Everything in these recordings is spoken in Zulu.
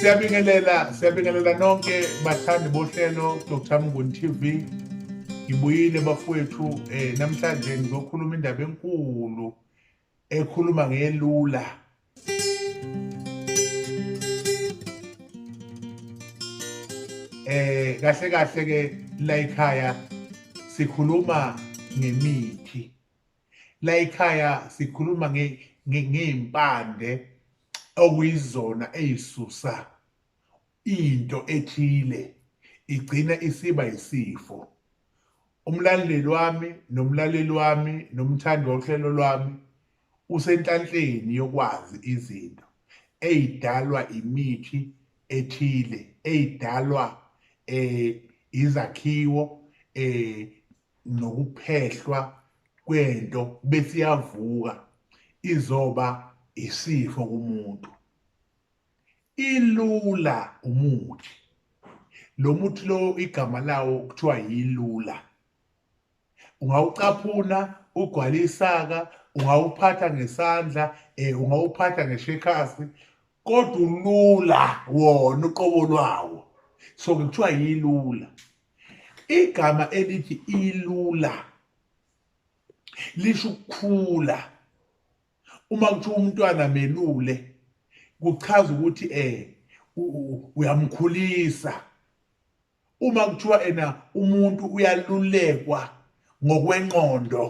siyabingelela siyabingelela nonke bathandi bohlelo dr mnguni tv ngibuyile bafowethu um eh, namhlanje ngizokhuluma indaba enkulu ekhuluma ngelula eh kahle kahle ke la ekhaya sikhuluma ngemithi la ekhaya sikhuluma ngey'mpande okuyizona ey'susa into ethile igcina isiba yisifo umlaleli wami nomlaleli wami nomthandi wohlelo lwami usenhlanhleni yokwazi izinto ey'dalwa imithi ethile ey'dalwa um izakhiwo um nokuphehlwa kwento bese iyavuka izoba isifo kumuntu ilula umuthi lo muthi lo igama lawo kuthiwa yilula ungawucaphuna ugwala isaka ungawuphatha ngesandla um ungawuphatha ngeshekasi kodwa ulula wona uqobo lwawo so kuthiwa yilula igama elithi ilula lisho ukukhula uma kuthiwa umntwana melule kuchaza ukuthi eh uyamkhulisa uma kuthiwa ena umuntu uyalulekwa ngokwenqondo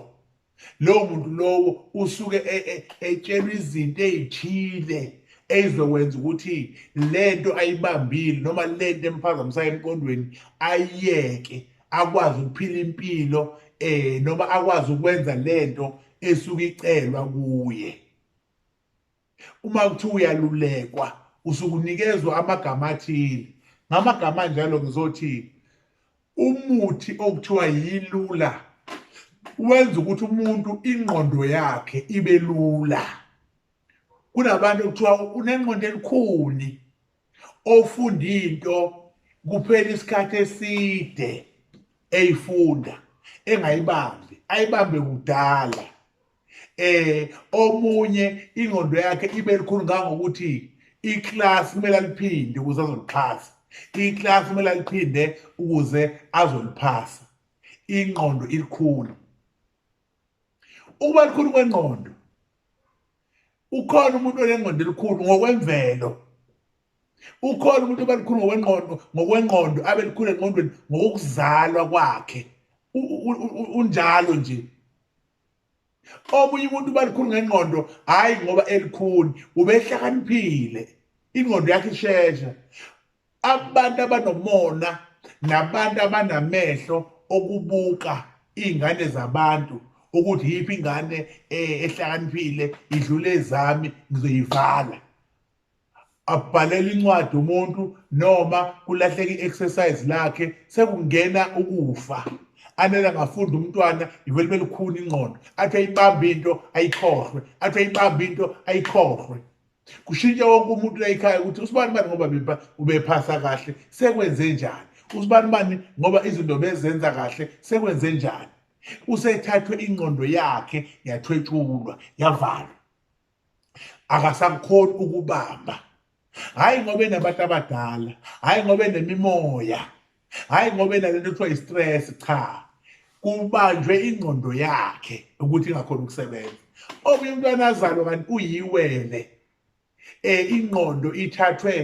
lowo muntu lowo usuke e, e, etshelwa izinto ey'thile eyizokwenza ukuthi lento ayibambile noma lento emphazamisayo emqondweni ayiyeke akwazi ukuphila impilo eh noma akwazi ukwenza lento esuke icelwa kuye Uma kuthiwa uyalulekwa usukunikezwa amagama athile. Ngamagama anjalo ngizothi umuthi okuthiwa yilula wenza ukuthi umuntu ingqondo yakhe ibe lula kunabantu okuthiwa unengqondo elikhuni ofunda into kuphela isikhathi eside eyifunda engayibambi ayibambe kudala eh omunye ingqondo yakhe ibe likhulu ngangokuthi iclass kumele aliphinde ukuze azolixhasa iclass kumele aliphinde ukuze azoliphasa ingqondo ilikhulu ukuba likhulu kwengqondo ukhona umuntu onengqondo elikhulu ngokwemvelo ukhona umuntu oba likhulu ngokwengqondo ngokwengqondo abe likhulu engqondweni ngokuzalwa kwakhe unjalo nje omunye umuntu uba likhulu ngengqondo hhayi ngoba elikhuni ubehlakaniphile ingqondo yakhe ishesha abantu abanomona nabantu abanamehlo okubuka iy'ngane zabantu ukuthi yiphi ingane eh, ehlakaniphile idlule ezami ngizoyivala abhalele incwadi umuntu noma kulahleka i-exercise lakhe sekungena ukufa anele angafunda umntwana ivele belikhuni ingqondo athi ayibambe into ayikhohlwe athi ayibambe into ayikhohlwe kushintsha wonke umuntu la ekhaya ukuthi usibani bani ngoba ubephasa kahle sekwenze njani usibani bani ngoba izinto bezenza kahle sekwenze njani usethathwe ingqondo yakhe yathwetshulwa yavalwa akasakhoni ukubamba hhayi ngoba enabantu abadala hhayi ngoba enemimoya hhayi ngoba enalento kuthiwa i-stress cha kubanjwe ingqondo yakhe ukuthi ingakhona ukusebenza omunye umntwana azalwa kanti uyiwele um ingqondo ithathwe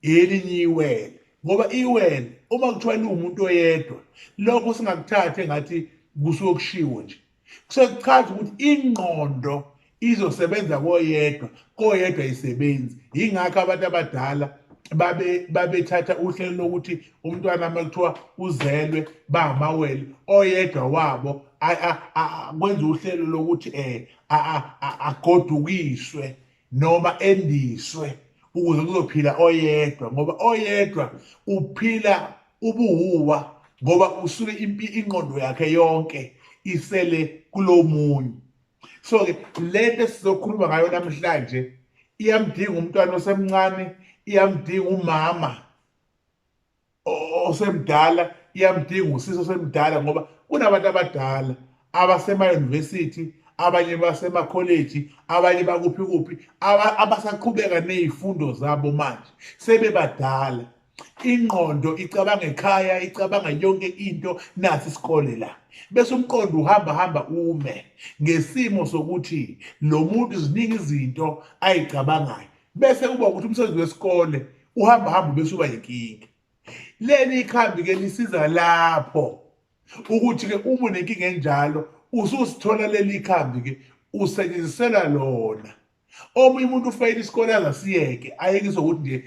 elinye iwele ngoba iwele uma kuthiwa liwumuntu oyedwa lokho singakuthatha engathi kusuke kushiwo nje kusekuchaza ukuthi ingqondo izosebenza koyedwa koyedwa isebenzi yingakho abantu abadala babe babethatha uhlelo lokuthi umntwana uma kuthiwa uzelwe bangamawele oyedwa wabo kwenza uhlelo lokuthi um agodukiswe noma endiswe ukuze kuzophila oyedwa ngoba oyedwa uphila ubuhuwa ngoba usuke inqondo yakhe yonke isele kulomunye so ke lento sizokhuluma ngayo namhlanje iyamdinga umntwana osemncane iyamdinga umama osemdala iyamdinga usisi osemdala ngoba kunabantu abadala abasema-university abanye basemakholeji abanye bakuphi kuphi abasaqhubeka ney'fundo zabo manje sebebadala ingqondo icabanga ekhaya icabanga yonke into nathi isikole la bese umqondo uhamba hamba ume ngesimo sokuthi lo muntu ziningi izinto ayicabangayo bese kuba ukuthi umsebenzi wesikole uhamba hamba bese uba yinkinga leli ikhambi ke lisiza lapho ukuthi ke uma unenkinga enjalo ususithola leli ikhambi ke usebenzisela lona omunye umuntu ufeyile isikole angasiyeke ayekise ukuthi nje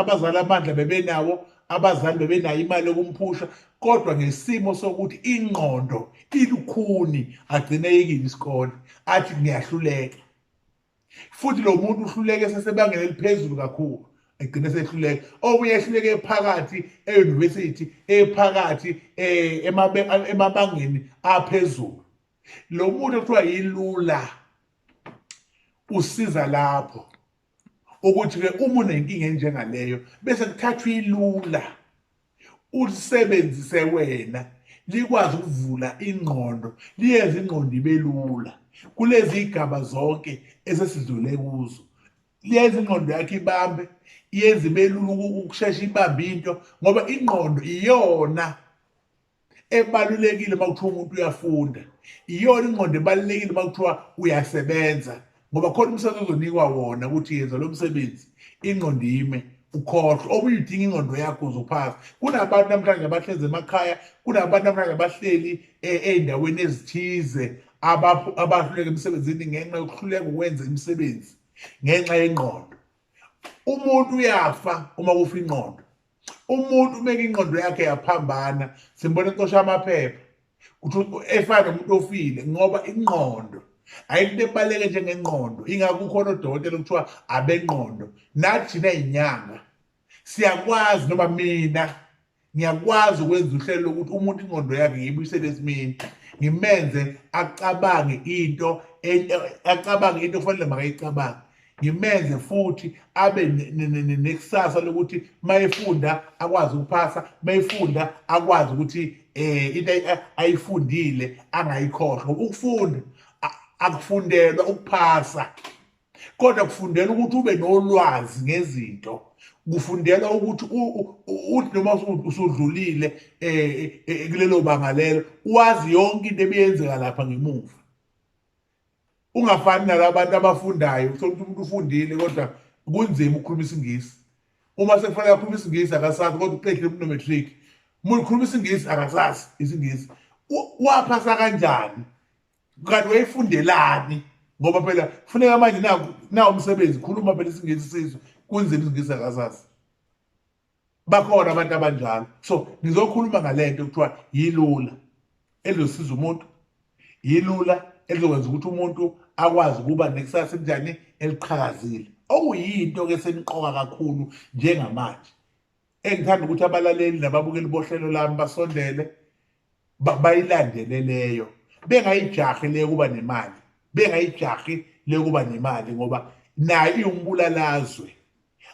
abazali amandla bebenawo abazali bebenayo imali yokumphusha kodwa ngesimo sokuthi ingqondo ilukhuni agcine yekile isikole athi ngiyahluleka futhi lo muntu uhluleke sesebangela eliphezulu kakhulu egcine sehluleka omunye ehluleke ephakathi e-university ephakathi eh, emabangeni aphezulu lo muntu okuthiwa yilula usiza lapho ukuthi-ke uma unenkinga enjengaleyo bese kuthathwa ilula ulisebenzise wena likwazi ukuvula ingqondo liyenze ingqondo ibe lula kulezi igaba zonke esesidlule kuzo liyenza ingqondo yakhe ibambe iyenza ibe lula ukushesha ibambe into ngoba ingqondo iyona ebalulekile uma kuthiwa umuntu uyafunda iyona ingqondo ebalulekile uma kuthiwa uyasebenza ngoba khona umsebenzi ozonikwa wona ukuthi yenza lo msebenzi ingqondo ime ukhohlwa omunye udinga ingqondo yakho uzophasa kunabantu namhlanje abahlezi emakhaya kunabantu namhlanje abahleli eh, ey'ndaweni ezithize abahluleka emsebenzini ngenxa yokuhluleka ukwenza imisebenzi ngenxa yengqondo umuntu uyafa uma kufa ingqondo umuntu uma inqondo yakhe yaphambana simbona ecosha amaphepha kuthi efana nomuntu ofile ngoba inqondo ayikho ebaleke njengenqondo ingakho ukhona odokotela kuthiwa abenqondo nathi nezinyanga siyakwazi noma mina ngiyakwazi ukwenza uhlelo lokuthi umuntu ingqondo yakhe ngiyibuyisele esimeni ngimenze acabange into e, e, acabange into ofanele makayicabange ngimenze futhi abe nekusasa lokuthi mayefunda akwazi ukuphasa mayefunda akwazi ukuthi eh into ayifundile angayikhohlwa ukufunda akufundelwa ukuphasa kodwa kufundela ukuthi ube nolwazi ngezinto kufundela ukuthi uthi noma usudlulile eh, eh, eh kulelo banga lelo wazi yonke into ebiyenzeka lapha ngemuva ungafani nalabantu abafundayo uthola ukuthi umuntu ufundile kodwa kunzima ukukhuluma isingisi uma sekufanele akhuluma isingisi akasazi kodwa uqedile kunomatric umuntu ukhuluma isingisi akasazi isingisi waphasa kanjani kanti wayifundelani ngoba phela kufuneka manje nawo umsebenzi khuluma phela isingisi sizwe kunzima isingisi akasazi bakhona abantu abanjalo so ngizokhuluma ngalento kuthiwa yilula elizosiza umuntu yilula elizokwenza ukuthi umuntu akwazi ukuba nekusasa elinjani eliqhakazile okuyinto ke seniqoka kakhulu njengamanje engithanda ukuthi abalaleli nababukeli bohlelo lami basondele bayilandele leyo bengayijahi le kuba nemali bengayijahi le kuba nemali ngoba nayo iwumbulalazwe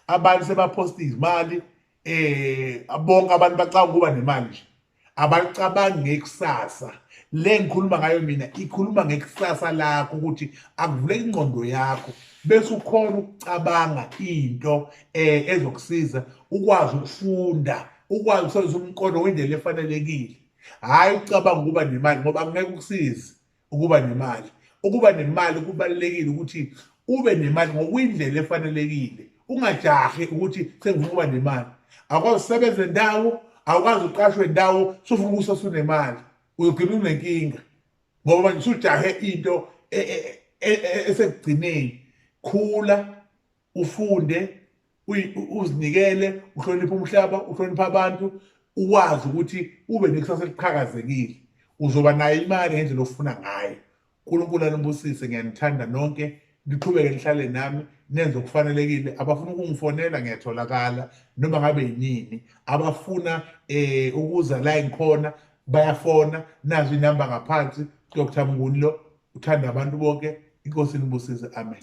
abantu sebaphosta izimali eh bonke abantu bacanga ukuba nemali nje abacabangi ngekusasa le ngikhuluma ngayo mina ikhuluma ngekusasa lakho ukuthi akuvule ingqondo yakho bese ukhona ukucabanga into eh ezokusiza ukwazi ukufunda ukwazi ukusebenzisa umqondo ngendlela efanelekile hhayi ucabanga ukuba nemali ngoba ngeke ukusize ukuba nemali ukuba nemali kubalulekile ukuthi ube nemali ngokwindlela efanelekile ungajahi ukuthi sengifuna ukuba nemali akwazi usebenze ndawo awukwazi uqashwe ndawo sufuna ukusa sunemali uyogcina unenkinga ngoba manje usujahe into e, e, e, esekugcineni khula ufunde uzinikele uhloniphe umhlaba uhloniphe abantu uwazi ukuthi ube nekusasa eliqhakazekile uzoba nayo imali ngendlela ofuna ngayo unkulunkulu anibusise ngiyanithanda nonke niqhubeke nihlale nami nenze okufanelekile abafuna ukungifonela ngiyatholakala noma ngabe yinini abafuna um ukuza la ngikhona bayafona nazo inamba ngaphansi dr mnguni lo uthanda abantu bonke inkosi inibusise amen